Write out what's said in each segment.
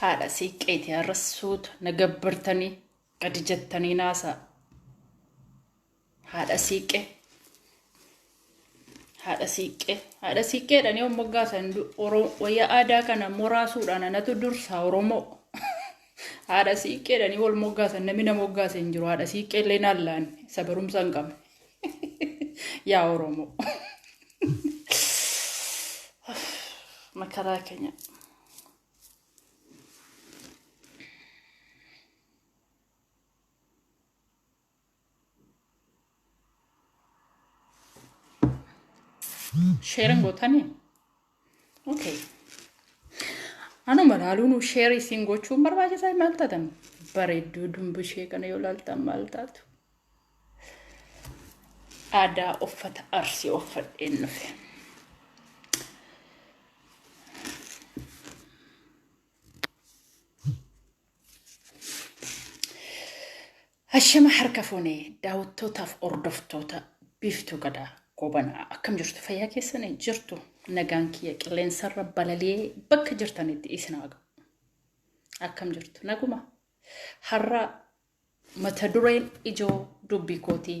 haadha siiqqeeti har'a suuta na gabbartanii gadi jettanii naasaa haadha siiqqee haadha siiqqee haadha siiqqeedhaan yoo moggaasan wayyaa aadaa kana moraasuudhaan anatu dursaa oromoo haadha siiqqeedhaan wal moggaasan namni na moggaase hin jiru haadha siiqqee illee naan laanne isa barumsa hin qabne Yaa Oromoo. Makaraa keenya. Sheeran gootanii? Okay. Anuma laaluun sheerii siin gochuun barbaachisaa maal taatan bareedduu dumbushee kana yoo laaltan maal taatu. Aadaa uffata arsii uffadheen dhufe. Hashama harka fuunee daawwattootaaf hordoftoota biiftuu gadaa goobanaa akkam jirtu fayyaa keessan jirtu nagaan kiyya qilleensarra balali'ee bakka jirtanitti isin haa ga'u. Akkam jirtu naguma har'a mata dureen ijoo dubbii kootii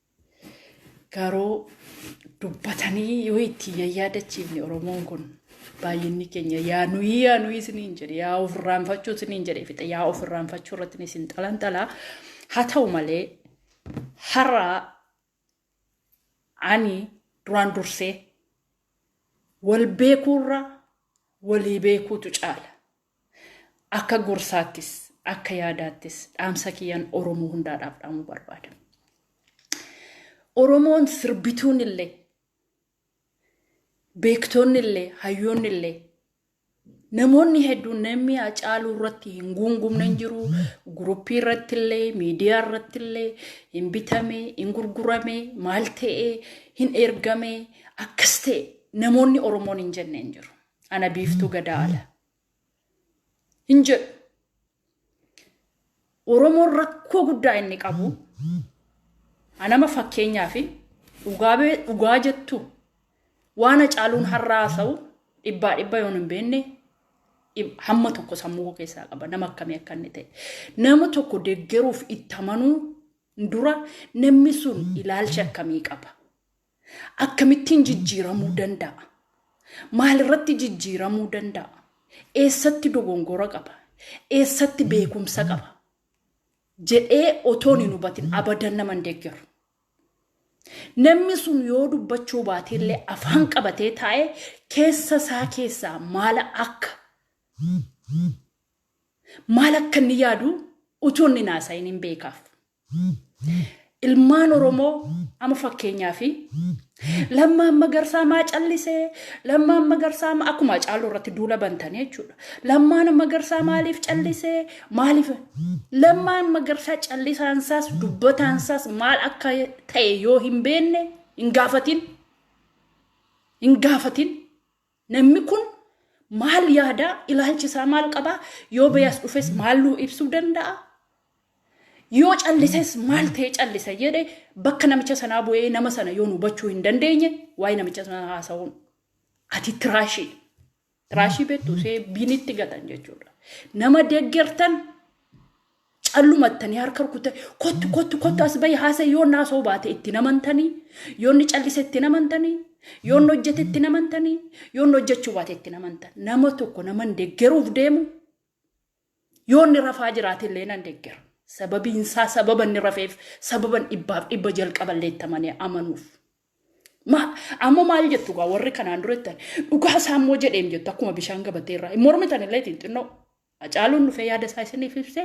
Garuu dubbatanii yoo itti yayyaadachiifne Oromoon kun baay'inni keenya yaa nuyi yaa nuyi isiniin jedhe yaa of irraanfachuu isiniin jedhe fixe yaa of irraanfachuu irratti isin xalanxala haa ta'u malee har'a ani duraan dursee wal beekuurra walii beekuutu caala. Akka gorsaattis, akka yaadaattis dhaamsa kiyyan Oromoo hundaadhaaf dhaamuu barbaada. Oromoon sirbituun illee, beektoonni illee, hayyoonni illee, namoonni hedduun namni Hacaaluu irratti hin guungumne hin jiru. Guruppii irratti illee, miidiyaa irratti illee hin bitame, hin gurgurame, maal ta'e, hin ergame, akkas ta'e namoonni Oromoon hin jenne hin jiru. Ana biiftuu gadaa ala. Hin jedhu. Oromoon rakkoo guddaa inni qabu anama fakkeenyaa fi dhugaa bee- dhugaa jettu waan hacaaluun har'a haasa'u dhibbaa dhibba yoon hin beekne dhib- hamma tokko sammuu koo keessaa qaba nama akkamii akka inni ta'e. Nama tokko deggeruuf itti amanuu dura namni sun ilaalcha akkamii qaba? Akkamittiin jijjiiramuu danda'a? Maalirratti jijjiiramuu danda'a? Eessatti dogongora qaba? Eessatti beekumsa qaba? jedhee otoon hin hubatin abadan nama hin deeggaru. Namni sun yoo dubbachuu baate illee afaan qabatee taa'ee keessa isaa keessaa maala akka maal akka inni yaadu utuu inni hin haasa'in hin beekaaf. Ilmaan Oromoo amma fakkeenyaa fi Lammaan Magarsaa maa callisee Lammaan Magarsaa maa akkuma Hacaaluu irratti duula bantanii jechuudha. Lammaan Magarsaa maaliif callisee maaliif Lammaan Magarsaa callisaan isaas dubbataan isaas maal akka ta'e yoo hin beekne hin gaafatin hin gaafatin Namni kun maal yaadaa? Ilaalchi isaa maal qabaa? Yoo beeyas dhufes maal nuu ibsuu danda'a? Yoo callises maal ta'ee callisa jedhe bakka namicha sanaa bu'ee nama sana yoo nu hubachuu hin dandeenye waa'ee namicha sanaa haasa'uun ati tiraashii tiraashii beektu see binitti gatan jechuudha. Nama deeggartan callumattanii harka rukuttanii kottu kottu kottu as bahi haasa'e yoo inni haasa'uu baate itti namantanii yoo inni callise itti namantanii yoo inni hojjete itti namantanii yoo inni hojjechuu baate itti namantan nama tokko nama hin deggeruuf deemu yoo inni rafaa jiraate illee nan deggera sababiin isaa sababa inni rafeef sababan dhibbaaf dhibba jalqaballee itti amanee amanuuf. Ma- Amma maal jettu gaa warri kanaan dura jettan dhugaa isaa immoo jedheem jettu akkuma bishaan gabatee irraa hin mormitan illee xinnoo Hacaaluun dhufee yaada isaa isiniif ibse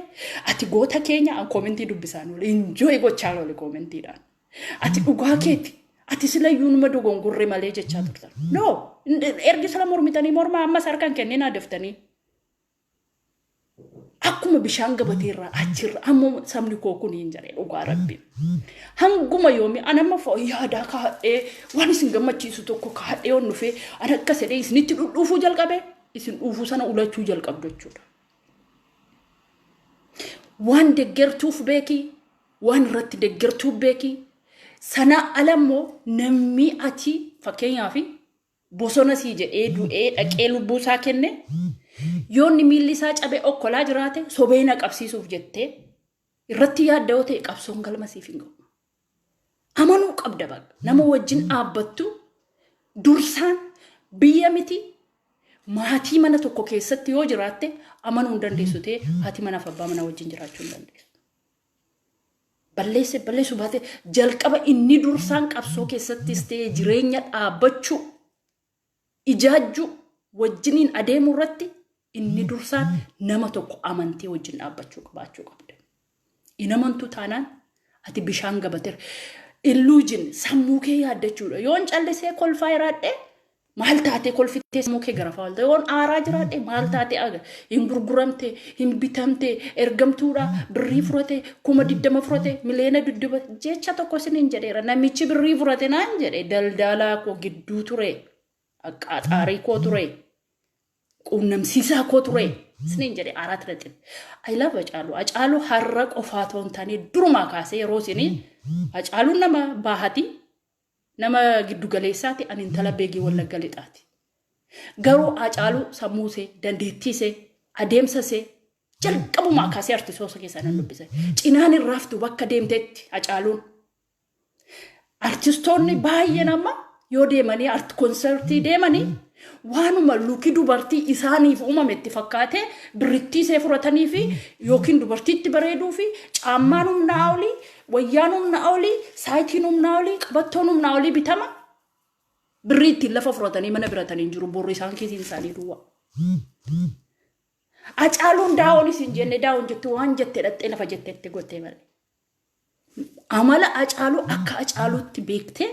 ati goota keenya an koomentii dubbisaan oole injooy gochaan oole koomentiidhaan. Ati dhugaa keeti ati sila iyyuu numa dogongorre malee jechaa turtan. No ergi sila mormitanii mormaa ammas harkaan kenninaa deftanii. Akkuma bishaan gabatee irraa achirra amma sabni koo kun hin jedhe dhugaa rabbiin. Hanguma yoomi an amma fo- yaadaa kaadhee waan isin gammachiisu tokko kaadhee on dhufee an akka sedhee isinitti dhudhuufuu jalqabee isin dhuufu sana ulachuu jalqabdu jechuudha. Waan deggertuuf beeki, waan irratti deggertuuf beeki. Sanaa ala immoo namni ati fakkeenyaaf bosona sii jedhee du'ee dhaqee lubbuu isaa kenne yoonni miilli isaa cabee okkolaa jiraate sobee na qabsiisuuf jettee irratti yaadda yoo ta'e qabsoon galma siif hin ga'u. Amanuu qabda baqa. Nama wajjin dhaabbattu dursaan biyya miti maatii mana tokko keessatti yoo jiraatte amanuu hin dandeessu ta'e haati manaaf abbaa manaa wajjin jiraachuu hin dandeessu. Balleesse balleessuu baate jalqaba inni dursaan qabsoo keessattis ta'e jireenya dhaabbachuu ijaajjuu, wajjiniin adeemuu irratti inni dursaan nama tokko amantee wajjin dhaabbachuu qabaachuu qabda. Hin amantuu taanaan ati bishaan gabateera. Illuujin sammuu kee yaaddachuudha. Yoon callisee kolfaa jiraadhe maal taatee kolfitee sammuu kee garafaa oolta. Yoon aaraa jiraadhe maal taatee aga. hin gurguramte hin bitamte ergamtuudha birrii furate kuma diddama furate miliyoona dudduba jecha tokko isiniin jedheera namichi birrii furate naan jedhe daldaalaa koo gidduu ture aqaaxaarii koo ture quunnamsiisaa koo ture isiniin jedhe arat naxib ayilaf acaalu acaalu har'a qofaa toon taane durumaa kaasee yeroo isinii acaaluun nama baahati Nama giddu galeessaati ani intala beegii wallagga lixaati. Garuu Haacaaluu sammuu isee, dandeettii isee, adeemsa isee jalqabumaa kaasee artisoota keessaa nan dubbise. Cinaan hin raaftu bakka deemteetti Haacaaluun. Artistoonni baay'een amma yoo deemanii art konsertii deemanii Waanuma luki dubartii isaaniif uumame itti fakkaatee birrittii see furataniifi yookiin dubartiitti bareeduufi caammaan humnaa olii, wayyaan humnaa olii, saayitiin humnaa olii, qabattoon humnaa olii bitama. Birrii ittiin lafa furatanii mana biratanii hin jiru borri isaan kiisiin isaanii duwwaa. Acaaluun daawon isin jenne daawon jette waan jette dhaqxee lafa jettetti gottee malee. amala acaaluu akka acaaluutti beektee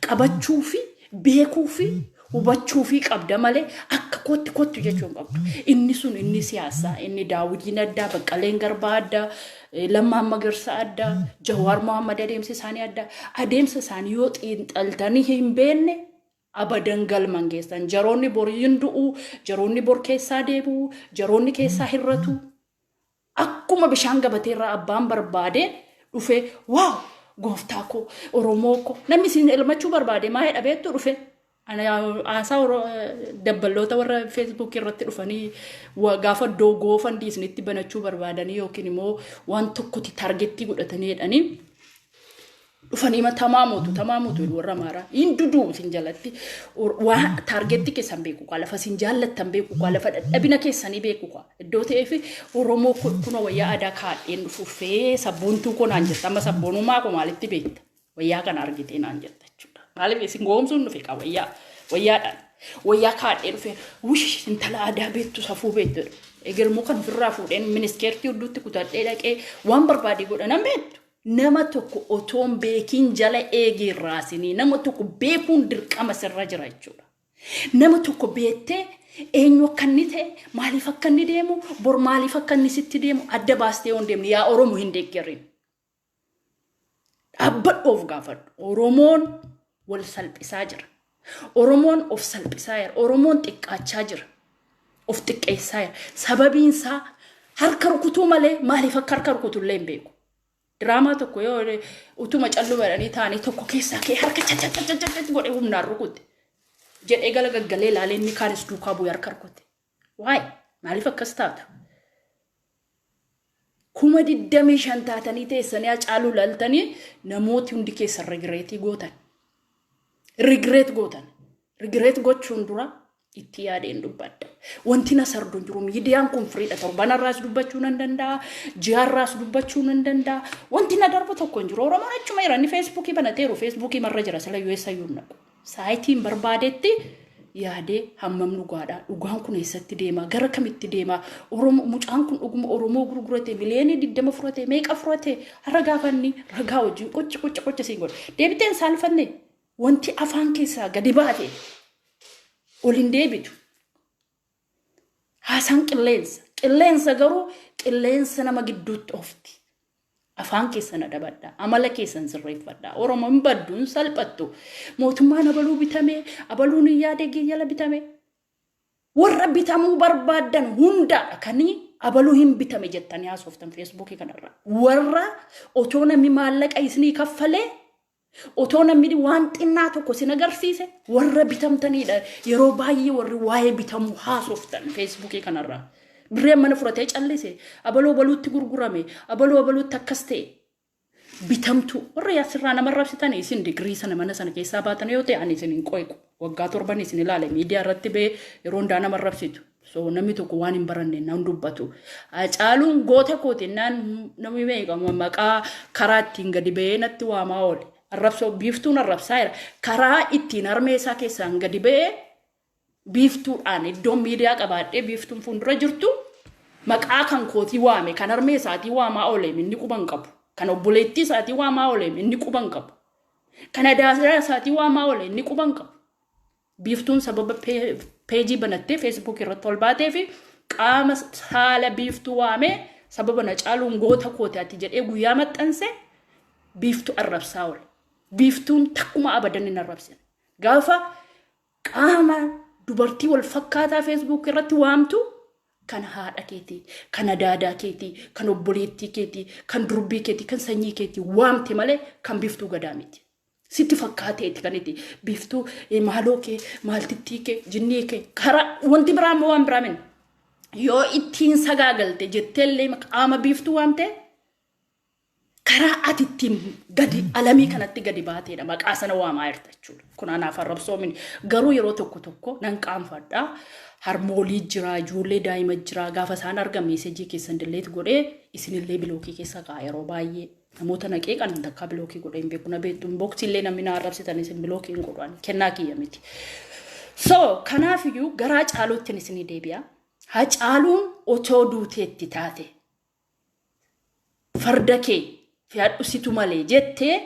qabachuu fi beekuu fi hubachuu fi qabda malee akka kootti kottu jechuu hin qabdu. Inni sun inni siyaasaa, inni daawwitiin addaa, baqqaleen garbaa addaa, eh, lammaan magarsaa addaa, jawaar Mohaammed adeemsa isaanii addaa. Adeemsa isaanii yoo xiinxaltanii hin beekne Abadan galma hin geessan. Jaroonni bor hin du'u, jaroonni bor keessaa deebi'u, jaroonni keessaa hirratu. Akkuma bishaan gabatee irraa abbaan barbaade dhufee waaw gooftaa koo Oromoo koo namni isin elmachuu barbaade maa jedha beektu dhufe. Ani haasaa Oro- dabballoota warra feesbuukii irratti dhufanii wa- gaafa iddoo goofandii isinitti banachuu barbaadanii yookiin immoo waan tokkotti taargettii godhatanii jedhanii dhufanii ma tamaa mootu tamaa mootu jedhu warra maaraa hin duduu isin jalatti Or- waa taargeetti keessan beeku kaa lafa isin jaallattan beeku kaa lafa dadhabina keessanii beeku kaa iddoo ta'eef oromoo kun kunoo wayyaa aadaa kaadheen dhufuufee sabboontuu koo naan jirta amma sabboonummaa koo maalitti beekta wayyaa kana argitee naan jirta jechuudha maaliif isin goomsuun dhufe kaa wayyaa wayyaadhaan wayyaa kaadhee dhufe wush intala aadaa beektu safuu beektu jedhu. egermoo kan ofirraa fuudheen ministeertii hedduutti kutadhee dhaqee waan barbaade godha nan beektu Nama tokko otoo hin beekiin jala eegii hin raasinii. Nama tokko beekuun dirqama sirra jira jechuudha. Nama tokko beettee eenyu akka inni ta'e, maaliif akka inni deemu, bor maaliif akka inni sitti deemu adda baastee yoo hin deemne yaa Oromo hin deeggarin. Dhaabbadhu of gaafadhu. Oromoon wal salphisaa jira. Oromoon of salphisaa jira. Oromoon xiqqaachaa jira. Of xiqqeessaa jira. Sababiin isaa harka rukutuu malee maaliif akka harka rukutu illee hin beeku. Diraamaa tokko yoo utuma calluu jedhanii taa'anii tokko keessaa kee harka cacacacacacacc godhee humnaan rukute. Jedhee gala gaggalee ilaalee inni kaanis duukaa bu'ee harka rukute. Why? Maaliif akkas taata? Kuma digdamii shan taatanii teessanii Hacaaluu laaltanii namooti hundi keessan rigireetii gootan. Rigireet gootan. Rigireet gochuun dura itti yaadeen dubbadha. Wanti na sardu hin jiru. Miidiyaan kun firiidha. Torbanarraas dubbachuu nan danda'a. Ji'arraas dubbachuu nan danda'a. Wanti na darbu tokko hin jiru. Oromoon achuma jira. Inni feesbuukii banateeru. Feesbuukii marra jira. Sila US ayyuu hin dhabu. Saayitiin barbaadetti yaadee hammam dhugaadha? Dhugaan kun eessatti deema? Gara kamitti deema? Oromo, mucaan kun dhuguma Oromoo gurgurate miliyeenii digdama furate meeqa furate? Har'a gaafanni ragaa wajjin qocha qocha qocha siin godhe. Deebitee hin saalfanne wanti afaan keessaa gadi baate ol hin deebitu. Haasaan qilleensa. Qilleensa garuu qilleensa nama gidduutti oofti. Afaan keessan adabadha. Amala keessan sirreeffadha. Oromoo hin baddu, hin salphattu. Mootummaan abaluu bitamee, abaluun hin yaadee giyyala bitamee. Warra bitamuu barbaadan hundaadha kan abaluu hin bitame jettanii haasoftan feesbuukii kanarra. Warra otoo namni maallaqa isinii kaffalee Otoo namni waan xinnaa tokko sin agarsiise warra bitamtaniidha. Yeroo baay'ee warri waa'ee bitamuu haasoftan feesbuukii kanarraa. Birreen mana fudhatee callise, abaloo baluutti gurgurame, abaloo abaluutti akkas ta'e. Bitamtuu warra yaasirraa nama rabsitan isin digirii sana mana sana keessaa baatan yoo ta'e ani isin hin qoiqu. Waggaa torban isin ilaale miidiyaa irratti ba'ee yeroo hundaa nama rabsitu. So namni tokko waan hin baranne nan dubbatu. Hacaaluun goota kooti naan namni meeqa maqaa karaa ittiin gadi ba'ee natti waamaa oole. Arrabsoo biiftuun arrabsaa jira. Karaa ittiin harmee isaa keessaan gadi ba'ee biiftuudhaan iddoon miidiyaa qabaadhee biiftuun fuuldura jirtu maqaa kan kootii waame kan harmee isaatii waamaa ooleem inni quban qabu. Kan obboleettii isaatii waamaa ooleem inni quban qabu. Kan adaasaa isaatii waamaa oole inni quban qabu. Biiftuun sababa peejii banattee feesbuukii irratti ol baatee fi qaama saala biiftuu waamee sababa na caaluun goota kooti ati jedhee guyyaa maxxanse biiftuu arrabsaa oole. Biiftuun takkuma abadan hin arrabsine. Gaafa qaama dubartii wal fakkaataa feesbuukii irratti waamtu kan haadha keetii, kan adaadaa keetii, kan obboleettii keetii, kan durbii keetii, kan sanyii keetii waamte malee kan biiftuu gadaa miti. Sitti fakkaateeti kan itti biiftuu eh, maaloo kee maaltittii kee jinnii kee karaa wanti biraa immoo waan biraa min yoo ittiin sagaagalte jetteellee qaama biiftuu waan ta'e karaa ati ittiin gadi alamii kanatti gadi baateedha maqaa sana waamaa jirta jechuudha. Kun anaaf arrabsoo miti garuu yeroo tokko tokko nan qaanfadha harmoolii jira ijoollee daa'ima jira gaafa isaan arga meesejii keessan dilleet godhee isinillee bilookii keessa ka'a yeroo baay'ee. Namoota na qeeqan an takkaa bilookii godhee hin beeku na beektu inbox illee namni na arrabsitan isin bilookii hin godhu ani kennaa kiyya miti. So kanaaf iyyuu garaa caaluuttiin isinii deebi'a. Ha caaluun otoo duuteetti taate farda kee fe'adhu situ malee jettee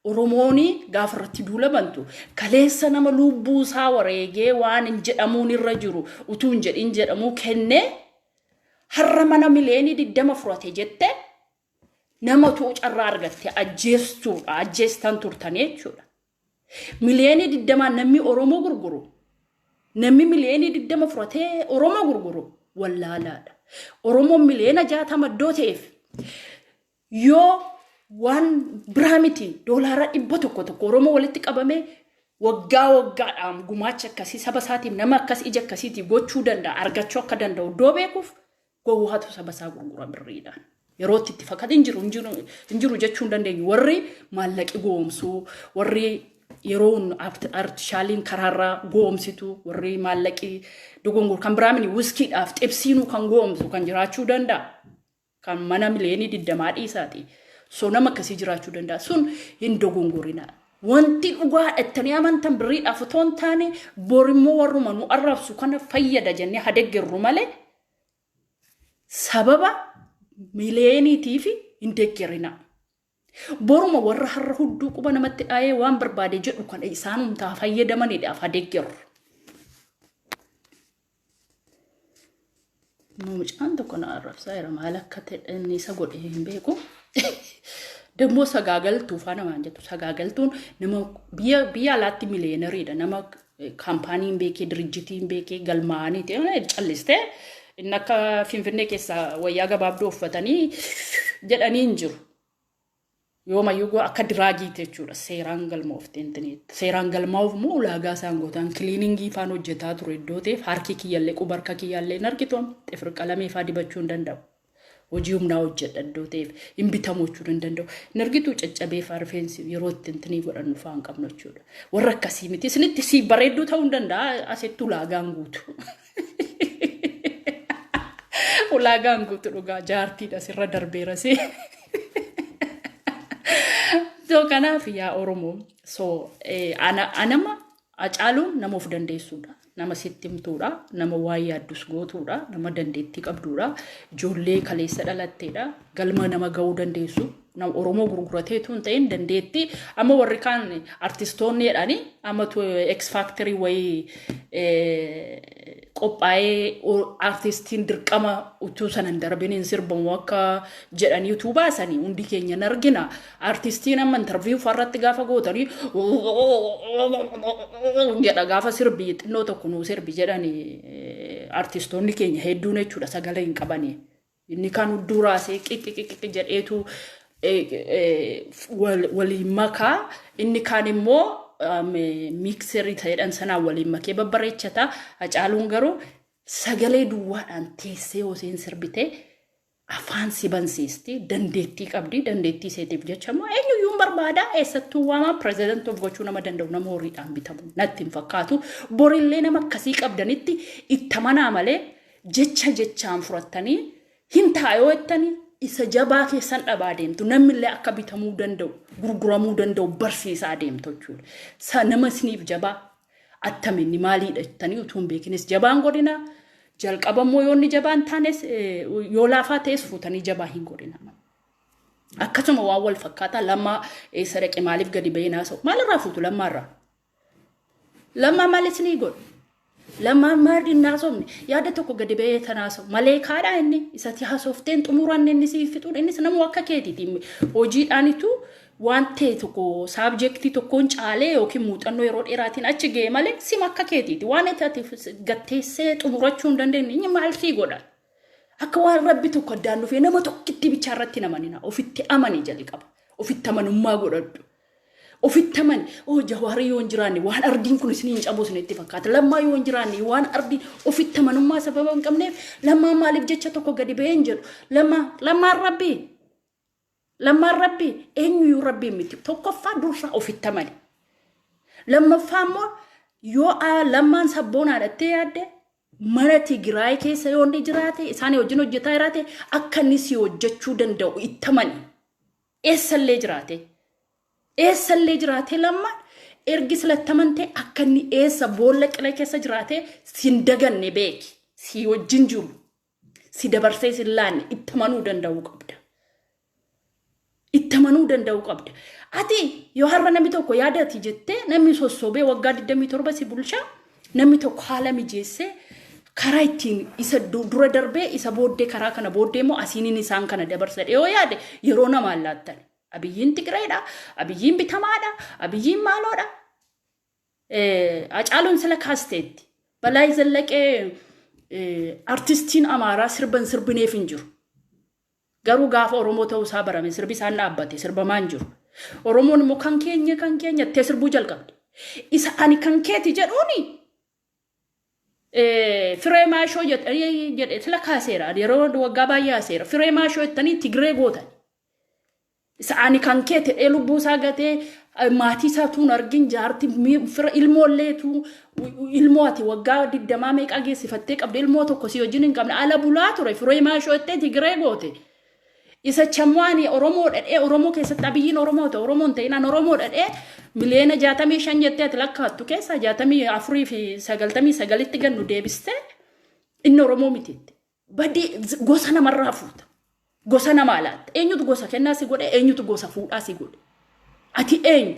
Oromooni gaafa irratti duula bantu kaleessa nama lubbuu isaa wareegee waan hin jedhamuun irra jiru utuu hin jedhin jedhamuu kennee har'a mana mileenii digdama furate jette Nama utuu carraa argatte ajjeestuudha, ajjeestan turtan jechuudha. Miliyoonii digdamaan namni Oromoo gurguru, namni miliyoonii digdama fudhatee Oromoo gurguru wallaalaadha. Oromoon miliyoona jaatama iddoo ta'eef yoo waan biraa miti doolaara dhibba tokko tokko Oromoo walitti qabamee waggaa waggaadhaan gumaacha akkasii saba isaatiif nama akkas ija akkasiitii gochuu danda'a argachuu akka danda'u iddoo beekuuf Gowwaatu saba isaa gurgura birriidhaan. Yerootti itti fakkaate hin jiru hin jiru jechuu hin dandeenyu. Warri maallaqi goomsuu, warri yeroon artishaaliin karaarraa goomsitu, warri maallaqi dogongor kan biraa mini wiskiidhaaf xibsiinuu kan goomsu kan jiraachuu danda'a. Kan mana miliyeenii digdamaa dhiisaati. So nama akkasii jiraachuu danda'a. Sun hin dogongorina. Wanti dhugaa dhattanii amantan birriidhaaf otoo hin taane borimmoo warruma nu arrabsu kana fayyada jennee hadeggerru malee sababa mileeniitiif hin deeggarinaa. Boruma warra har'a hudduu quba namatti dhaayee waan barbaade jedhu kana isaan humtaa fayyadamanidhaaf ha deeggaru. Immoo mucaan tokko na arrabsaa jira maal akka ta'e inni isa godhe hin beeku. Dammoo sagaagaltuu faa namaan jettu sagaagaltuun nama biyya biyya alaatti miliyeenariidha nama Kaampaaniin beekee, dirijjitiin beekee, galmaa'anii ta'e callistee inni akka Finfinnee keessaa wayyaa gabaabduu uffatanii jedhanii hin jiru. Yoomayyuu akka diraagiiti jechuudha. Seeraan galmooftee intineetti. Seeraan galmaa'uuf immoo ulaagaa isaan gootaan kiliiningii faan hojjetaa ture iddoo ta'eef harki kiyyallee quba harka kiyyaallee hin argitu xifir qalamee faa dibachuu hin danda'u. Hojii humnaa hojjedha iddoo ta'eef hin bitamu jechuudha hin danda'u. Hin argituu caccabee faa rifeensi yeroo itti intinii godhannu faa hin qabnu jechuudha. Warra akkasii miti. Isinitti si bareedduu ta'uu hin danda'a asitti ulaagaan guutu. Ulaagaan guutu dhugaa jaartiidha sirra darbeera si. So kanaaf yaa Oromoo so anama Hacaaluun nama of dandeessuudha. Nama sitti himtuudha. Nama waan yaaddus gootuudha. Nama dandeettii qabduudha. Ijoollee kaleessa dhalatteedha. Galma nama ga'uu dandeessu. Nama Oromoo gurguratee tun ta'in dandeettii amma warri kaan artistoonni jedhanii amma X Factory wayii qophaa'ee artistiin dirqama utuu sana hin darbiniin sirbamu akka jedhanii utuu baasanii hundi keenya hin argina. Artistiin amma interview farratti gaafa gootanii jedha gaafa sirbi xinnoo tokko nuu sirbi jedhani artistoonni keenya hedduun jechuudha sagalee hin qabani. Inni kan hudduu raasee qiqiqiqi jedheetu waliin makaa inni kaan immoo miikserii ta'edhaan sanaan waliin makee babbareechata. Hacaaluun garuu sagalee duwwaadhaan teessee hoseen sirbitee afaan si bansiisti dandeettii qabdi dandeettii seetiif jecha immoo eenyuyyuu hin barbaada eessattuu waamaa pireezidant of gochuu nama danda'u nama horiidhaan bitamu natti hin fakkaatu borillee nama akkasii qabdanitti ittamanaa malee jecha jechaan furattanii hin taayoo ittanii isa jabaa keessan dhabaa deemtu namnillee akka bitamuu danda'u gurguramuu danda'u barsiisaa deemtu jechuudha. Sa nama isiniif jabaa Attami inni maaliidha jettanii utuu hin beekinis jabaan godhina. Jalqaba immoo yoo inni jabaa hin taanes eh, yoo laafaa ta'es fuutanii jabaa hin godhina. Akkasuma waan wal fakkaataa lammaa eessa dhaqe maaliif gadi ba'ee naasa'u maalirraa fuutu lammaarraa? Lammaa maal isinii godhu? Lammaan maal hin naasofne yaada tokko gadi ba'ee tan haasa'u malee kaadhaa inni isatti haasofteen xumuran inni siif fixuun innis namuu akka keetiiti hojiidhaanitu Waan ta'e tokko saabjektii tokkoon caalee yookiin muuxannoo yeroo dheeraatiin achi ga'e malee sima akka keetiiti. Waan ati ati gatteessee xumurachuu hin dandeenye inni maal sii godha? Akka waan rabbi tokko addaan dhufee nama tokkitti bichaa irratti hin amanina. Ofitti amani jalqaba. Ofitti amanummaa godhadhu. Ofitti amani. Oo jawaari yoo hin jiraanne waan ardiin kun isiniin cabuu isinitti fakkaata. Lammaa yoo hin jiraanne waan ardiin ofitti amanummaa sababa hin qabneef lammaan maaliif jecha tokko gadi ba'ee hin jedhu. Lammaa lammaan rabbii. Lammaan rabbii eenyuyyuu rabbiin miti. Tokkoffaa dursaa ofitti amani. Lammaffaa immoo yoo aa- lammaan sabboonaadha jettee yaadde mana Tigiraay keessa yoo inni jiraate isaan wajjin hojjetaa jiraate akka inni si hojjechuu danda'u itti amani. Eessallee jiraate. Eessallee jiraatee lammaan ergi silatti amantee akka inni eessa boolla qilee keessa jiraatee sin daganne beeki. Si wajjin jiru. Si dabarsee sin laanne itti amanuu danda'uu qabda. Itti amanuu danda'uu qabda. Ati yoo har'a namni tokko yaada ati jettee namni sossobee waggaa 27 si bulchaa namni tokko haala mijeessee karaa ittiin isa du- dura darbee isa booddee karaa kana booddee immoo asiinin isaan kana dabarsa dhiyoo yaade yeroo namaan laattan. Abiyyiin Tigireedha, abiyyiin bitamaadha, abiyyiin maaloodha. Hacaaluun sila kaasteetti. Balaay Zallaqee artistiin Amaaraa sirba hin sirbineef hin jiru. Garuu gaafa Oromoo ta'uu isaa barame sirbi isaan dhaabbate sirbamaa hin jiru. Oromoon immoo kan keenya kan keenya ittee sirbuu jalqabde. Isa ani kan keeti jedhuuni firee maashoo jedhe sila kaaseera yeroo waggaa baay'ee haaseera firee maashoo jettanii Tigree gootan. Isa ani kan kee tedhee lubbuu isaa gatee maatii isaa tuun argin jaarti fira ilmoo illee tuu ilmoo ati waggaa digdamaa meeqaa geessifattee qabde ilmoo tokko si wajjin hin qabne ala bulaa ture firee maashoo ittee tigiree goote. Isa chamwaani Oromoo dhadhee Oromoo keessatti abiyyiin Oromoo ta'e Oromoo hin ta'inaan Oromoo dhadhee miliyoona jaatamii shan jettee ati lakkaattu keessaa jaatamii afurii fi sagaltamii sagalitti gannu deebistee inni Oromoo mitiitti. Badii gosa namarraa fuuta. Gosa namaa laatta. Eenyutu gosa kennaa si godhe? Eenyutu gosa fuudhaa si godhe? Ati eenyu?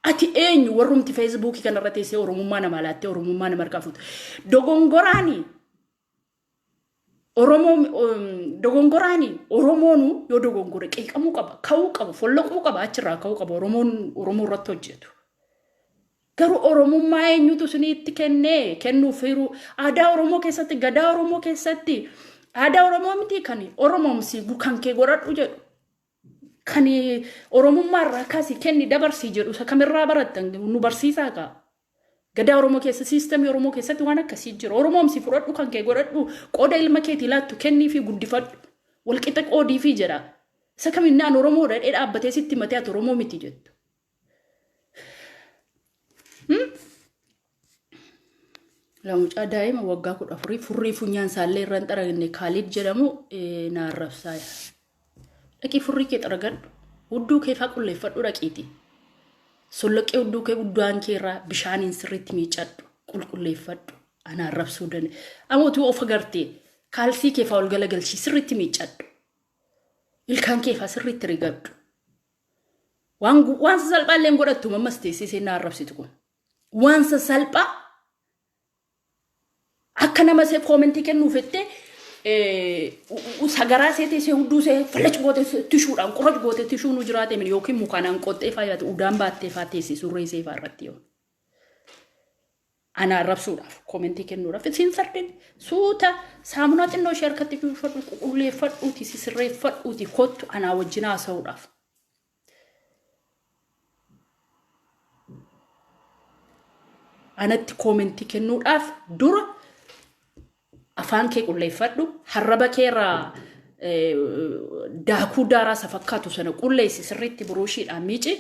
Ati eenyu warrumti feesbuukii kanarra teessee Oromummaa namaa laattee Oromummaa nama harkaa fuuta. Dogongoraani Oromoo dogongoraani Oromoonu yoo dogongore qeeqamuu qaba, ka'uu qaba, follaquu qaba, achirraa ka'uu qaba Oromoon Oromoo irratti hojjetu. Garuu Oromummaa eenyutu isiniitti kennee kennuuf hiruu aadaa Oromoo keessatti gadaa Oromoo keessatti aadaa Oromoo miti kan Oromomsi kan kee godhadhu jedhu kan Oromummaa irraa kaasi kenni dabarsii jedhu isa kamirraa barattan nu barsiisaa kaa. Gadaa Oromoo keessa siistemii Oromoo keessatti waan akkasii jira. Oromomsi fudhadhu kan kee godhadhu qooda ilma keetii laattu kennii fi guddifadhu. Walqixa qoodii fi jedha. Isa kaminnaan Oromoo dhadhee dhaabbatee sitti matee ati Oromoo miti jettu. Lamucaa daa'ima waggaa kudha afurii furrii funyaan isaallee irra hin xaragne Kaaliid jedhamu na arrabsaa jira. Dhaqii furrii kee xaragadhu. Hudduu kee faa qulleeffadhu dhaqiiti. Solloqqee hudduu kee guddaan kee irraa bishaaniin sirriitti miicadhu. Qulqulleeffadhu. Ana arrabsuu danda'e. Amma utuu of agartee kaalsii kee faa ol galagalchii sirriitti miicadhu. Ilkaan kee faa sirriitti rigadhu. Waan gu- waan sasalphaa illee hin godhattu ammas teessee seenaa arrabsitu kun. Waan sasalphaa akka nama see koomentii kennuu fettee eh, u- u- sagaraa see teessee hudduu see fallacu gootee se- tishuudhaan qurracu gootee tishuu nu jiraatee mini yookiin mukaanaan qoxxee faayaate udaan baattee faa teessee surree see faa irratti yoo. Ana arrabsuudhaaf koomentii kennuudhaaf isin fardeen suuta saamunaa xinnoo ishee harkatti duwwifadhu qulqulleeffadhuuti sisirreeffadhuuti kottu anaa wajjin haasa'uudhaaf. Anatti koomentii kennuudhaaf dura afaan kee qulleeffadhu harraba kee irraa eh, daakuu daaraa isa fakkaatu sana qulleessi sirriitti buruushiidhaan miici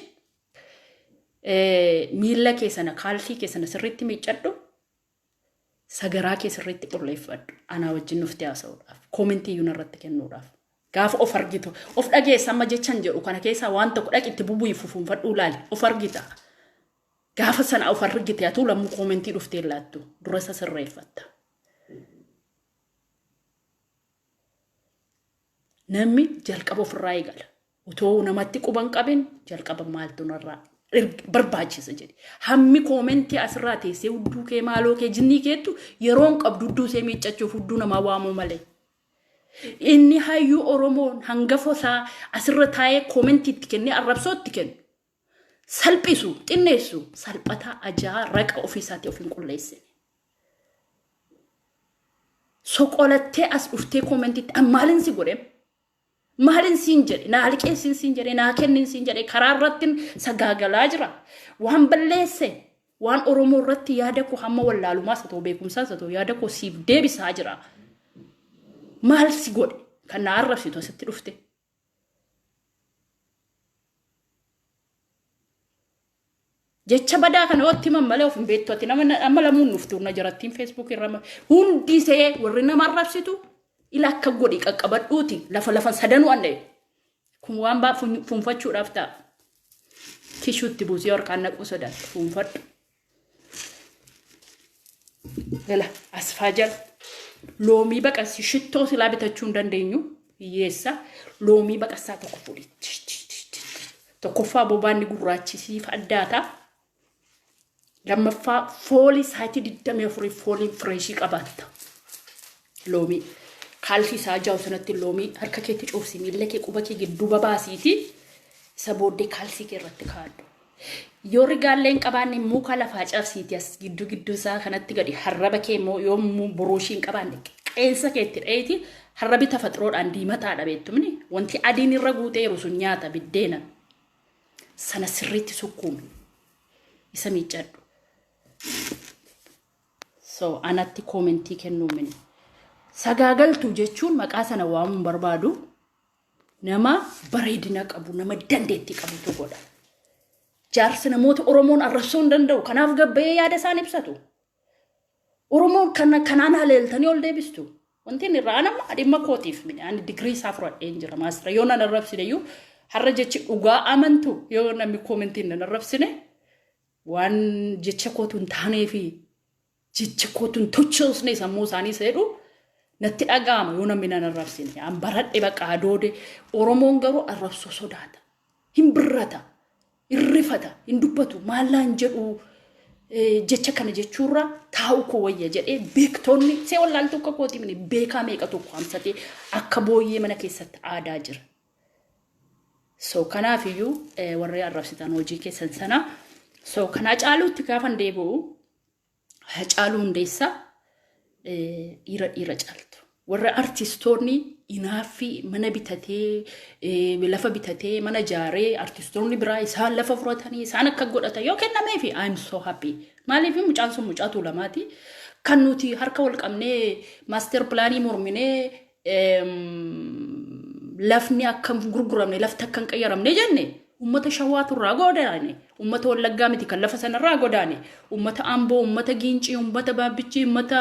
miila kee sana kaalsii kee sana sirriitti miiccadhu sagaraa kee sirriitti qulleeffadhu anaa wajjin nufti haasa'uudhaaf koomentii iyyuu narratti kennuudhaaf gaafa of argitu of dhageessa amma jechan jedhu kana keessaa waan tokko dhaqi itti bubu'i fufuunfadhuu laali of argita gaafa sana of argite atuu lammuu koomentii dhuftee laattu dura isa sirreeffatta. Namni jalqaba ofirraa eegala. Otoo namatti quba hin qabin jalqaba maaltu narraa erg- barbaachisa jedhe. Hammi koomentii asirraa teessee hudduu kee maaloo kee jinnii keettu yeroo hin qabdu hudduu see miiccachuuf hudduu namaa waamuu malee. Inni hayyuu Oromoon hangafa isaa asirra taa'ee koomentii itti kennee arrabsoo itti kennu. salphisu, xinneessu, salphataa, ajaa, raqa ofii isaatii of hin qulleessine. Soqolattee as dhuftee koomentitti an maalin si godhe maalin siin jedhe naa liqeessin siin jedhe naa kennin siin jedhe karaa irratti sagaagalaa jira waan balleesse waan oromoo irratti yaada koo hamma wallaalumaas haa ta'u beekumsaas haa ta'u yaada koo siif deebisaa jira maal si godhe kan naa arrabsitu asitti dhufte jecha badaa kana otti himan malee of hin beektu ati nama amma lamuun nuuf turna jirattiin feesbuuk irra hundi isee warri nama arrabsitu ila akka godhi qaqqabadhuuti lafa lafan sadanuu anne kun waan baa fuunfachuudhaaf ta'a kishuutti buusee harkaan naquu sodaatu fuunfadhu. Gala asfaa jala loomii baqassi shittoo silaa bitachuu hin dandeenyu hiyyeessa loomii baqassaa tokko fuudhi. Tokkoffaa bobaanni gurraachi siif addaata. Lammaffaa foolii saayitii 24 fooliin fireeshii qabaatta. Loomii. Kaalsii sa'a ja'a sanatti loomii harka keetti coobsi miilla kee quba kee gidduu babaasiiti isa booddee kaalsii kee irratti kaadhu. Yoo rigaallee hin qabaanne muka lafaa cabsiiti as gidduu gidduun isaa kanatti gadi harraba kee immoo yoo buruushii hin qabaanne qeensa keetti dheeti harrabi tafaxiroodhaan diimataadha beektumni wanti adiin irra guuteeru sun nyaata biddeena sana sirriitti sukkuumi isa miiccadhu. So anatti koomentii kennuu min. Sagaagaltuu jechuun maqaa sana waamuun barbaadu nama bareedina qabu, nama dandeetti qabutu godha. Jaarsi namoota Oromoon arrabsuu hin danda'u. Kanaaf gabbayee yaada isaan ibsatu. Oromoon kana kanaan haleeltanii ol deebistu. Wanti inni irraa anamma dhimma kootiif miti. Ani digirii isaa fudhadheen jira maastara. Yoo nan arrabsine iyyuu har'a jechi dhugaa amantu yoo namni koomentiin nan arrabsine waan jecha kootu hin taanee fi jecha kootu hin tochoosne sammuu isaanii seedhu natti dhaga'ama yoo namni nan arrabsine an baradhe baqa adoode oromoon garuu arrabsoo sodaata hin birrata hin rifata hin dubbatu maallaan jedhu eh, jecha kana jechuurra taa'u koo wayya jedhee beektoonni see wallaaltuu akka kooti mini beekaa meeqa tokko hamsatee akka booyyee mana keessatti aadaa jira So kanaaf iyyuu warri arrabsitan hojii keessan sana. So kan Hacaaluutti gaafan deebi'u Hacaaluu Hundeessaa dhiira dhiira caaltu. Warra artistoonni inaaffii mana bitatee lafa bitatee mana jaaree artistoonni biraa isaan lafa furatanii isaan akka godhatan yoo kennameef I am so happy. Maaliif mucaan sun mucaa tuulamaati. Kan nuti harka wal qabnee maaster pilaanii morminee lafni akka hin gurguramne lafti akka hin qayyaramne jenne ummata shawaatu irraa godaane ummata wallaggaa miti kan lafa sana irraa godaane ummata amboo ummata giincii ummata baabbichii ummata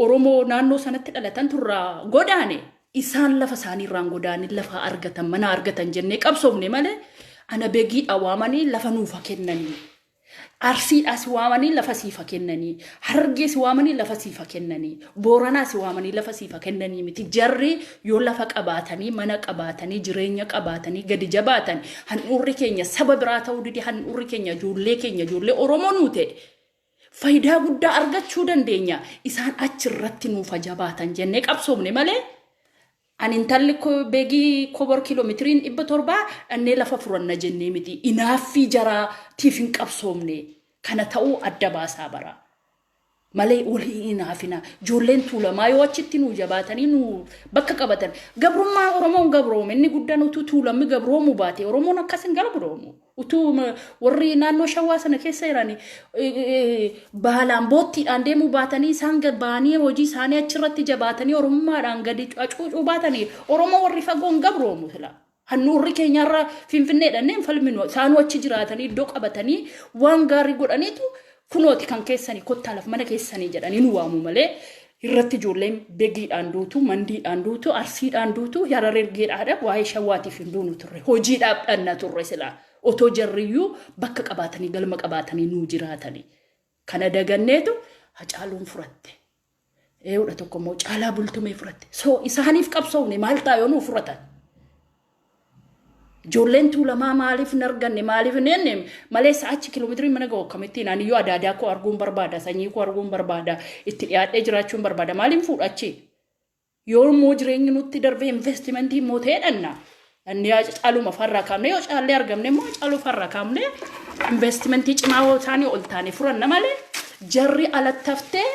oromoo naannoo sanatti dhalatan turraa godaane isaan lafa isaanii irraan godaane lafa argatan mana argatan jennee qabsoofne malee ana begiidha waamanii lafa nuufa kennanii Arsiidhaa si waamanii lafa siif ha kennanii, Harargee si waamanii lafa siif ha kennanii, Booranaa si waamanii lafa siif ha kennanii miti. Jarri yoo lafa qabaatanii, mana qabaatanii, jireenya qabaatanii gadi jabaatan handhuurri keenya saba biraa ta'uu dide handhuurri keenya ijoollee keenya ijoollee Oromoo nuu ta'e fayidaa guddaa argachuu dandeenya. Isaan achi irratti nuuf ha jabaatan jennee qabsoofne malee Ani intalli ko begi kobor kilometiriin dhibba torbaa dhannee lafa furanna jennee miti inaaffii jaraa tiif hin qabsoomne kana ta'uu adda baasaa bara malee wal hin inaafina joolleen tuulamaa yoo achitti nuu jabaatanii nuu bakka qabatan gabrummaa oromoon gabroome inni guddan utuu tuulammi gabroomu baate oromoon akkas hin gabroomu. Utuu warri naannoo shawaa sana keessa jiran baalaan boottiidhaan deemuu baatanii isaan ba'anii hojii isaanii achirratti jabaatanii oromummaadhaan gadi acuucuu baatanii oromoo warri fagoon gabroomu sila. Hannuurri keenyarra finfinneedhaan hin falminu isaanuu achi jiraatanii iddoo qabatanii waan gaarii godhaniitu Kunooti kan keessanii kottaa laf mana keessanii jedhanii nu waamu malee irratti ijoolleen begiidhaan duutu, mandiidhaan duutu, arsiidhaan duutu, yarar ergeedhaadha waa'ee shawwaatiif hin duunu turre. Hojiidhaaf dhanna turre silaa. Otoo jarriyyuu bakka qabaatanii galma qabaatanii nuu jiraatanii. Kana daganneetu hacaaluun furatte. Eewudha tokko immoo caalaa bultumee fudhatte. So isaaniif qabsoofne maal ta'a yoo nuuf fudhatan? Ijoolleen tuulamaa maaliif hin arganne maaliif hin enne malee sa'aachi kiiloomeetirii mana ga'u akkamittiin ani yoo adaadaa koo arguun barbaada sanyii koo arguun barbaada itti dhiyaadhee jiraachuun barbaada maaliin fuudhachi? Yoo immoo jireenyi nutti darbee investimentii immoo ta'ee dhanna. Dhannee hacaaluma farraa kaamnee yoo caallee argamne immoo hacaaluu farraa kaamnee investimentii cimaa yoo taane ol taane furanna malee jarri alatti haftee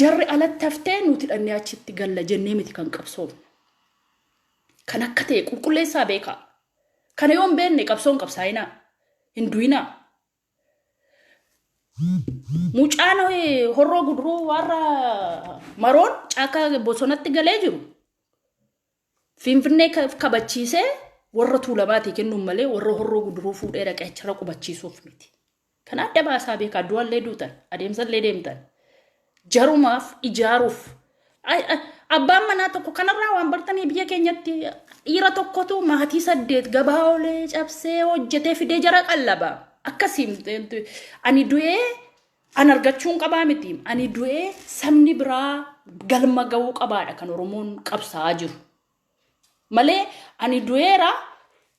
jarri alatti haftee nuti dhannee achitti galla jennee miti kan qabsoofne. Kan akka ta'e qulqulleessaa beekaa. Kana yoo hin beekne qabsoon qabsaa'inaa hin du'inaa. Mucaan horroo guduruu warra maroon caakkaa bosonatti galee jiru finfinnee kabachiisee warra tuulamaatii kennuun malee warra horroo guduruu fuudhee dhaqee achirra qubachiisuuf miti. Kan adda baasaa beekaa du'allee duutan adeemsallee deemtan. jarumaaf ijaaruuf Ay- ay- abbaan manaa tokko kanarraa waan bartanii biyya keenyatti dhiira tokkotu maatii saddeet gabaa olee cabsee hojjetee fidee jara qallaba akkasiin ani du'ee an argachuun qabaa miti ani du'ee sabni biraa galma ga'uu qabaadha kan oromoon qabsaa'aa jiru Malee ani du'eera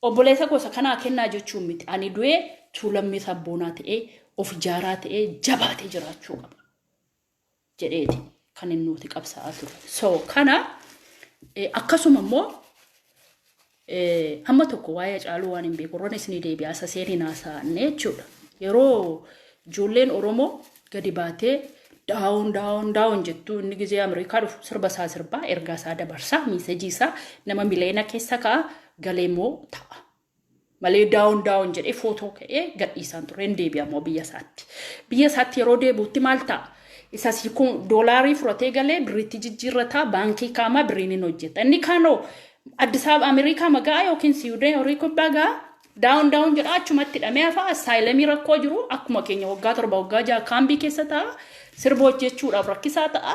obboleessa koo isa kanaa kennaa jechuun miti. Ani du'ee tuulammii sabboonaa ta'ee of ijaaraa ta'ee jabaatee jiraachuu qaba. jedheeti kan inni nuti qabsaa'aa ture. So kana eh, akkasuma immoo eh, amma tokko waa'ee caaluu waan hin beeku irran isinii deebi'aa isa seeniin haasa'anne jechuudha. Yeroo ijoolleen Oromoo gadi baatee daawon daawon daawon jettu inni gizee Ameerikaa dhufu sirba isaa sirbaa ergaa isaa dabarsaa miisejii isaa nama mileena keessa ka'a galee moo ta'a. Malee daawon daawon jedhee footoo ka'ee gadhiisaan ture hin deebi'a moo biyya isaatti. Biyya isaatti yeroo deebuutti maal ta'a? Isa siikuu doolaarii fudhatee galee birriitti jijjiirrataa baankii kaamaa birriin hin hojjeta. Inni kaanoo Addis Ababa Ameerikaa magaa yookiin Siwudee horii kubbaa gaa Down down jedha achumatti hidhamee hafa asaayilamii rakkoo jiru akkuma keenya waggaa torba waggaa jaha kaambii keessa ta'a sirba hojjechuudhaaf rakkisaa ta'a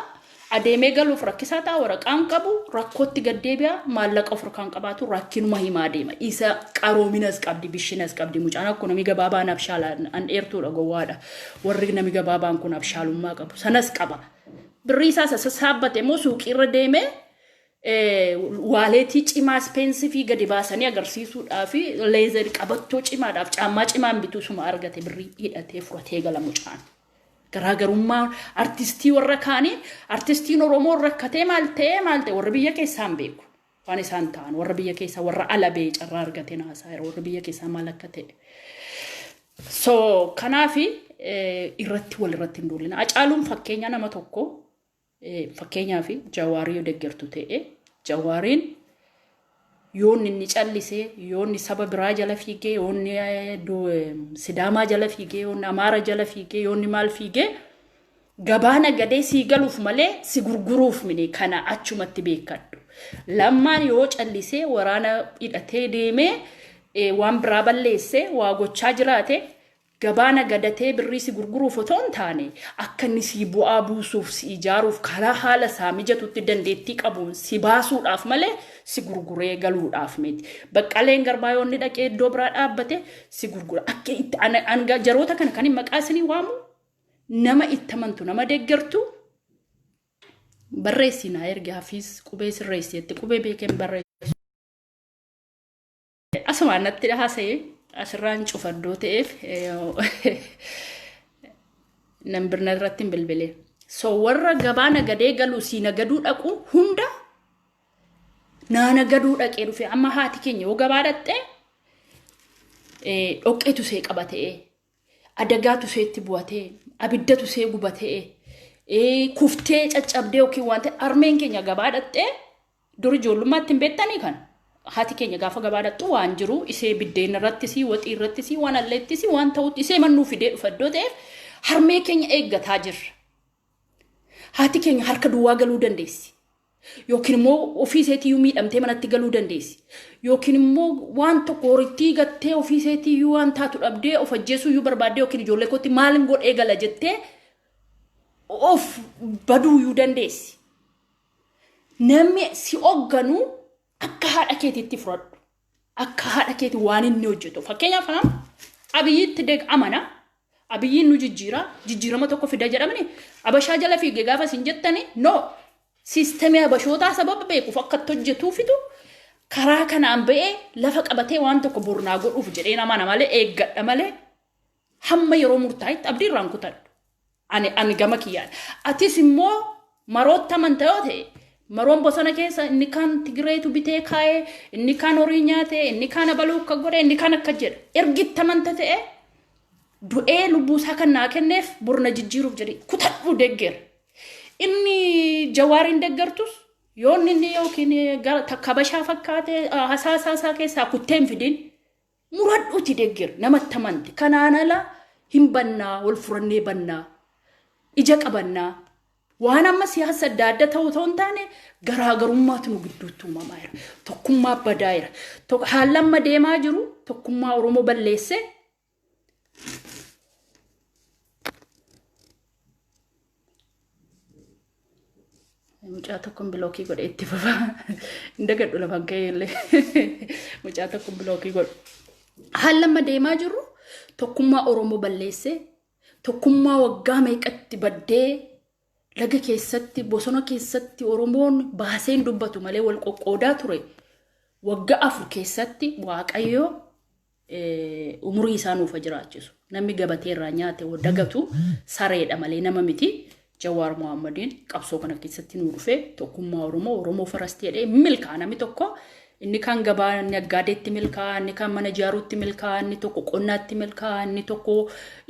adeemee galuuf rakkisaa ta'a waraqaan qabu rakkootti gaddeebi'a maallaqa of harkaan qabaatu rakkinuma himaa deema isa qaroominas qabdi bishinas qabdi mucaan akkuma namni gabaabaan abshaala an dheertuudha gowwaadha warri namni gabaabaan kun abshaalummaa qabu sanas qaba birrii isaa isa sassaabbate immoo suuqii irra deemee waaleetii cimaa ispeensifii gadi baasanii agarsiisuudhaaf leezer qabattoo cimaadhaaf caammaa cimaan bituu suma argate birrii hidhatee furatee gala mucaan. Garaagarummaa artistii warra kaanii artistiin Oromoo rakkatee maal ta'ee maal ta'e warra biyya keessaa hin beeku. Waan isaan ta'an warra biyya keessaa warra ala ba'ee carraa argatee naasaa yeroo warra biyya keessaa maal akka ta'e. So kanaafi irratti wal irratti hin duulina. Acaaluun fakkeenya nama tokko Fakkeenyaaf Jawaar yoo deggertu ta'e Jawaariin yoonni inni callisee yoonni saba biraa jala fiigee yoonni sidaamaa jala fiigee yoonni amaara jala fiigee yoonni maal fiigee gabaa nagadee sii galuuf malee si gurguruuf mine kana achumatti beekadhu. Lammaan yoo callisee waraana hidhatee deemee waan biraa balleessee waa gochaa jiraate Gabaa nagadatee birrii si gurguruuf otoo hin taane, akka inni sii bu'aa buusuuf, si ijaaruuf karaa haala isaa mijatutti dandeettii qabuun si baasuudhaaf malee si gurguree galuudhaaf miti. Baqqaleen Garbaa yoo inni dhaqee iddoo biraa dhaabbate si gurgura. Akka itti ana anga jaroota kana kanin maqaa isinii waamu nama itti amantu nama deeggartu barreessii naa ergi hafiis qubee sirreessi jette qubee beekeen barreessu. Asumaan natti haasa'e asirraan cufadhoo ta'eef nan birna irratti hin bilbile. So warra gabaa nagadee galu sii nagaduu dhaqu hunda naa nagaduu dhaqee dhufe amma haati keenya yoo gabaa dhaqxee dhoqqeetu see qaba ta'ee adagaatu seetti bu'atee abiddatu see gubatee ee, kuftee caccabdee yookiin waan ta'e armeen keenya gabaa dhaqxee dur ijoollummaatti hin beektanii kan haati keenya gaafa gabaa dhaqxu waan jiru isee biddeen irrattis waxii irrattis waan alleettis waan ta'utti isee mannuu fidee dhufa iddoo ta'eef harmee keenya eeggataa jirra. Haati keenya harka duwwaa galuu dandeessi. Yookiin immoo ofii isheetiyyuu miidhamtee manatti galuu dandeessi. Yookiin immoo waan tokko horittii gattee ofii isheetiyyuu waan taatu dhabdee of ajjeesuuyyuu barbaaddee yookiin ijoollee kootti maalin godhee gala jettee of baduuyyuu dandeessi. Namni si hogganu akka haadha keetiitti fudhadhu. Akka haadha keeti waan inni hojjetu. Fakkeenyaaf haam abiyyiitti deg amana. Abiyyiin nu jijjiira. Jijjiirama tokko fida jedhamni. Abashaa jala fiige gaafa isin jettani no. Siistemii abashootaa sababa beekuuf akka itti hojjetuufitu karaa kanaan ba'ee lafa qabatee waan tokko bornaa godhuuf jedheen amana malee eeggadha malee hamma yeroo murtaa'etti abdii irraan kutadhu. Ani ani gama kiyyaan. Atis immoo marootti amanta yoo ta'e maroon bosona keessa inni kaan Tigireetu bitee kaa'ee inni kaan horii nyaatee inni kaan abaluu akka godhe inni kaan akka jedhe ergitti amanta ta'e du'ee lubbuu isaa kan naa kenneef borna jijjiiruuf jedhe kutadhu degger. Inni jawaariin deggertus yoon inni yookiin gara takka bashaa fakkaatee hasaasaa isaa keessaa kuttee hin fidin Muradhuuti deggeri namatti amanti kanaan ala hin bannaa wal furannee bannaa ija qabannaa waan amma siyaasa adda adda ta'uu ta'uu hin taane garaagarummaatu nu gidduutti uumamaa jira tokkummaa badaa jira Tok- haalli amma deemaa jiru tokkummaa oromoo balleessee Mucaa tokkoon bilookii godhe itti fufa. Hin dagadhu lafan ka'ee illee. Mucaa tokkoon bilookii godhe. Haala amma deemaa jirru tokkummaa Oromoo balleessee tokkummaa waggaa meeqatti baddee laga keessatti bosona keessatti Oromoon baaseen dubbatu malee wal qoqqoodaa ture. Waggaa afur keessatti Waaqayyo umurii isaa nuuf haa jiraachisu. Namni gabatee irraa nyaate hoo dagatu sareedha malee nama miti. Jawaar Mohammadiin qabsoo kana keessatti nuu dhufee tokkummaa Oromoo Oromoo farasti jedhee milkaa namni tokko inni kan gabaa naggaadeetti milkaa inni kan mana ijaaruutti milkaa inni tokko qonnaatti milkaa inni tokko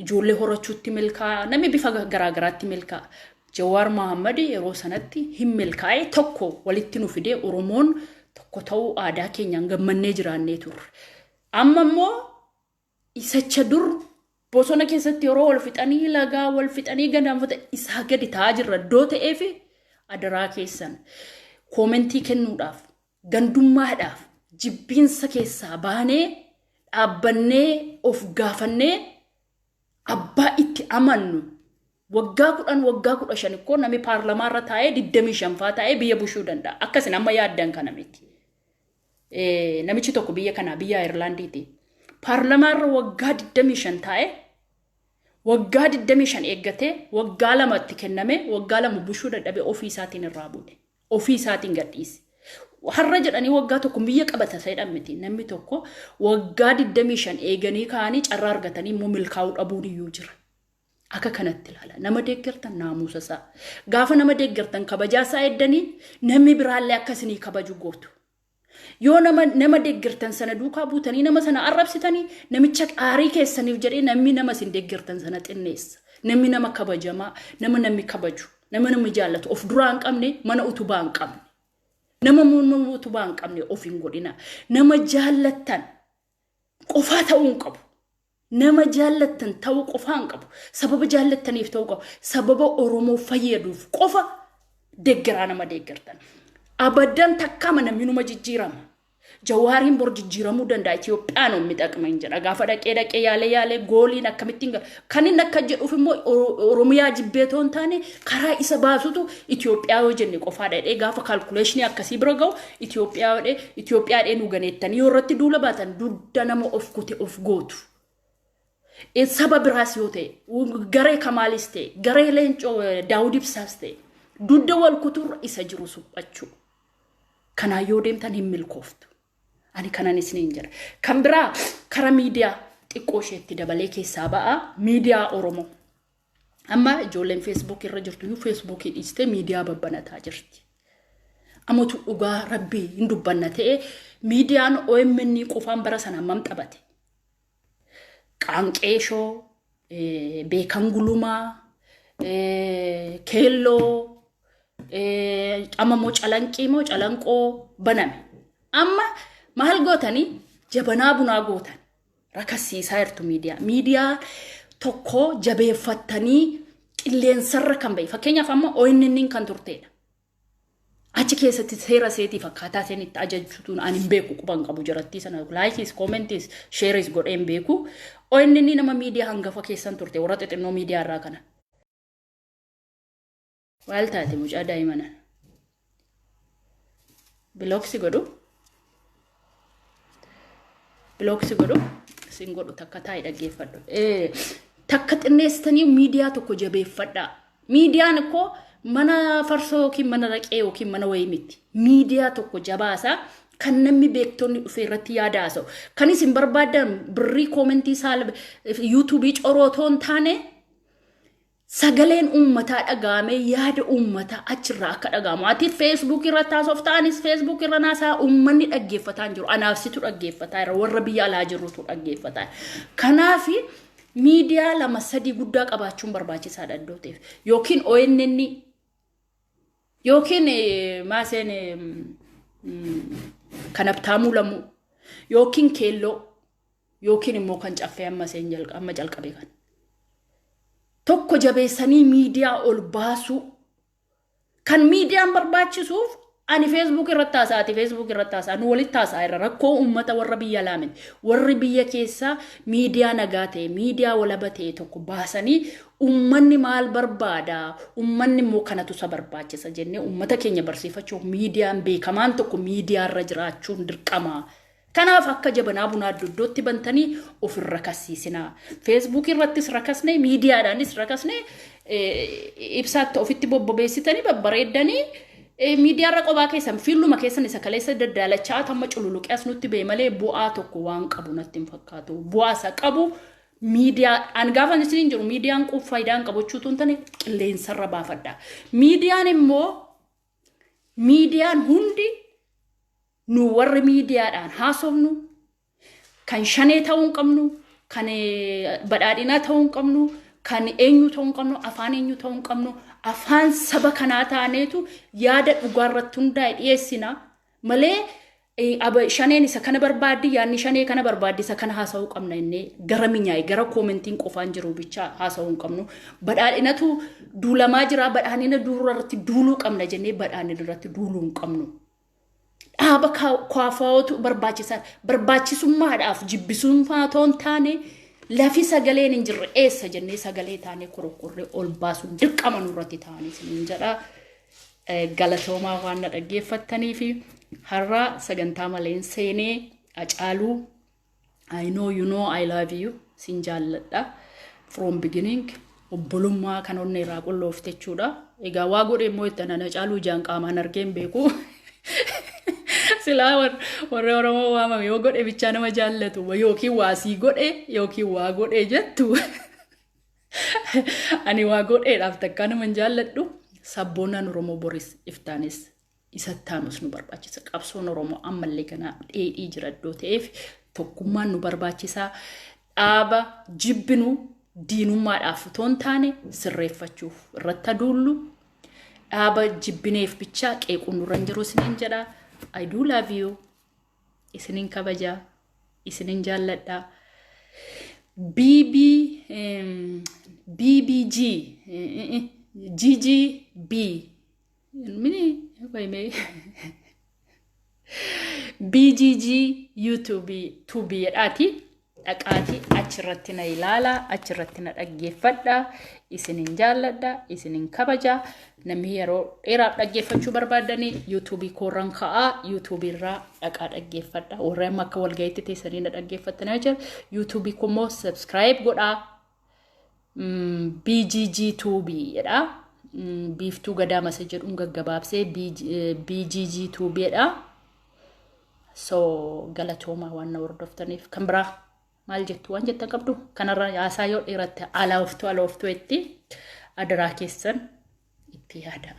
ijoollee horachuutti milkaa namni bifa garaagaraatti milkaa Jawaar Mohammed yeroo sanatti hin milkaa'e tokko walitti nu fidee Oromoon tokko ta'uu aadaa keenyaan gammannee jiraannee turre. Amma immoo isacha dur bosona keessatti yeroo wal fixanii lagaa wal fixanii gadaanfata isaa gadi ta'aa jirra iddoo ta'eef adaraa keessan koomentii kennuudhaaf gandummaadhaaf jibbiinsa keessaa baanee dhaabbannee of gaafannee abbaa itti amannu waggaa kudhan waggaa kudha shan ikkoo nami paarlamaa irra taa'ee digdamii shanfaa taa'ee biyya bushuu danda'a akkasin amma yaaddan kana miti namichi tokko biyya kanaa biyya ayirlaandiiti paarlamaa irra waggaa digdamii shan taa'ee waggaa digdamii shan eeggatee waggaa lamatti kenname waggaa lama bushuu dadhabee ofii isaatiin irraa bu'e ofii isaatiin gadhiise. Har'a jedhanii waggaa tokko biyya qabata seedhan miti. Namni tokko waggaa 25 eeganii kaanii carraa argatanii immoo milkaa'uu dhabuun iyyuu jira. Akka kanatti ilaala. Nama deeggartan naamusa isaa. Gaafa nama deeggartan kabajaa isaa eeddanii namni biraallee akka isinii kabaju gootu. Yoo nama nama deeggartan sana duukaa buutanii nama sana arrabsitanii namicha aarii keessaniif jedhee namni nama isin deeggartan sana xinneessa. Namni nama kabajamaa, nama namni kabaju, nama namni jaallatu of duraa hin qabne mana utubaa hin qabne. Nama muunnoon utubaa hin qabne of hin godhina. Nama jaallattan qofaa ta'uu hin qabu. Nama jaallattan ta'uu qofaa hin qabu. Sababa jaallattaniif ta'uu qabu. Sababa Oromoo fayyaduuf qofa deeggaraa nama deeggartan. Abaddan takkaa mana minuma jijjiirama. Jawaariin bor jijjiiramuu danda'a. Itoophiyaan hin midhaqne hin jedha. Gaafa dhaqee dhaqee yaalee yaalee gooliin akkamittiin gala. Kan inni akka jedhuuf immoo Oromiyaa jibbee otoo hin taane karaa isa baasutu Itoophiyaa yoo jenne qofaadha jedhee gaafa kaalkuleeshinii akkasii bira gahu Itoophiyaa jedhee Itoophiyaa jedhee nu ganeettanii yoo irratti duula baatan dugda nama of kute of gootu. Saba biraas yoo ta'e garee kamaalis ta'e garee leencoo daawud ibsaas ta'e dugda wal kuturra isa jiru suphachuu. Kanaan yoo deemtan hin milkooftu. Ani kanan isiniin jedha. Kan biraa kara miidiyaa xiqqoo isheetti dabalee keessaa ba'aa miidiyaa Oromoo. Amma ijoolleen Facebook irra jirtu iyyuu Facebook dhiistee miidiyaa babbanataa jirti. Amatu dhugaa rabbii hin dubbanna ta'e miidiyaan OMN qofaan bara sana hammam taphate. Qaanqeeshoo, Beekan Gulumaa, Keelloo, amma immoo calanqii moo calanqoo baname. Amma maal gootanii jabanaa bunaa gootan rakassiisaa jirtu miidiyaa. Miidiyaa tokko jabeeffattanii qilleensarra kan ba'e. Fakkeenyaaf amma ONN kan turteedha. Achi keessatti seera seetiif akkaataa seen itti ajajjutuun an hin beeku quban qabu jarattii sana laayikiis koomentiis sheeris godhee hin beeku. ONN nama miidiyaa hangafa keessan turte warra xixinnoo miidiyaa irraa kana. Waal taate mucaa daa'imana. Bilooksi godhu. Bilook si godhu sin godhu takka taa'i dhaggeeffadhu. Eh, Takka xinneessitanii miidiyaa tokko jabeeffadhaa. Miidiyaan koo mana farsoo yookiin mana raqee yookiin mana wayii miti. Miidiyaa tokko jabaasaa kan namni beektonni dhufee irratti yaada haasa'u. Kan isin barbaadan birrii koomentii saala yuutuubii coroo otoo hin taane Sagaleen uummataa dhaga'amee yaada uummataa achirraa akka dhaga'amu. Ati Facebook irratti haasofta, anis Facebook irra naasaa uummanni dhaggeeffataa hin jiru. Anaaf situ dhaggeeffataa jira, warra biyya alaa jirrutu dhaggeeffataa jira. Kanaaf miidiyaa lama sadii guddaa qabaachuun barbaachisaadha iddoo ta'eef. Yookiin ONN yookiin eh, maaseen eh, mm, kan abtaamuu lamuu yookiin keelloo yookiin immoo kan caffee amma seen jalqa amma calqabe kan tokko jabeessanii miidiyaa ol baasuu kan miidiyaan barbaachisuuf ani feesbuuk irratti haasaa ati feesbuuk irratti haasaa nu walitti haasaa irra rakkoo uummata warra biyya laamin warri biyya keessaa miidiyaa nagaa ta'e miidiyaa walaba ta'e tokko baasanii uummanni maal barbaada uummanni immoo kanatu isa barbaachisa jennee uummata keenya barsiifachuuf miidiyaan beekamaan tokko miidiyaa irra jiraachuun dirqama Kanaaf akka jabanaa bunaa doddotti bantanii of hin rakassiisinaa. Feesbuukii irrattis rakasnee, miidiyaadhaanis rakasnee eh, ibsaatti ofitti bobbobeessitanii babbareeddanii eh, miidiyaarra qophaa keessan fiilluma keessan isa kaleessa daddaalachaa tamma cululuqee as nutti ba'e malee bu'aa tokko waan qabu natti hin fakkaatu. Bu'aa isa qabu miidiyaa an gaafan isiniin jiru miidiyaan quuf faayidaa hin qabu jechuutu hin tane qilleensarra baafadha. Miidiyaan immoo miidiyaan hundi Nu warri miidiyaadhaan haasofnu kan shanee ta'uu hin qabnu, kan badhaadhinaa ta'uu hin qabnu, kan eenyu ta'uu hin qabnu, afaan eenyu ta'uu hin qabnu, afaan saba kanaa taaneetu yaada dhugaarratti hundaa'e dhiyeessina malee shaneen isa kana barbaaddi yaadni shanee kana barbaaddi isa kana haasa'uu qabna innee gara minyaa'e gara koomentiin qofaan jiru bichaa haasa'uu hin qabnu badhaadhinatu duulamaa jira badhaadhina duurarratti duuluu qabna jennee badhaadhina irratti duuluu hin qabnu dhaaba kwaafaawootu barbaachisaa barbaachisummaadhaaf jibbisummaa otoo hin taane lafi sagaleen hin jirre eessa jennee sagalee taanee korokkorree ol baasuun dirqama nurratti ta'anii isiniin jedha. Galatoomaa waan na dhaggeeffattanii fi har'a sagantaa maleen seenee acaaluu I know you know I love you sin jaalladha from beginning obbolummaa kan onnee irraa qulloofte jechuudha. Egaa waa godhe immoo itti anana caaluu ijaan qaamaan argeen beeku. Silaa war- warri Oromoo waamame yoo godhe bichaa nama jaallatu yookiin waa sii godhe yookiin waa godhe jettu. Ani waa godheedhaaf takkaa nama hin jaalladhu sabboonaan Oromoo boris iftaanis isa itti aanus nu barbaachisa. Qabsoon Oromoo ammallee ganaa dheedhii jira iddoo ta'eef tokkummaan nu barbaachisaa dhaaba jibbinu diinummaadhaaf otoo hin taane sirreeffachuuf irratti aduullu dhaaba jibbineef bichaa qeequun nurra hin jiru isiniin jedha. I do love you. Isiniin kabaja. Isiniin jaalladha. BB BBG GGB Mini qoy mee BGG YouTube tuubii jedhaati dhaqaati achirratti na ilaala achirratti na dhaggeeffadha isinin jaalladha isinin kabaja namni yeroo dheeraaf dhaggeeffachuu barbaadanii yuutuubii koorran ka'aa yuutuubii irraa dhaqaa dhaggeeffadha warra amma akka walga'iitti teessanii na dhaggeeffatanii jira yuutuubii koo immoo sabskiraayib godhaa BGG Tuubi jedha. Biiftuu Gadaa Masa jedhuun gaggabaabsee BGG Tuubi jedha. So galatoomaa waan na hordoftaniif kan biraa maal jettu waan jettan qabdu kanarra haasaa yoo dheeratte alaa oftuu ala oftuu itti adaraa keessan itti yaadaa.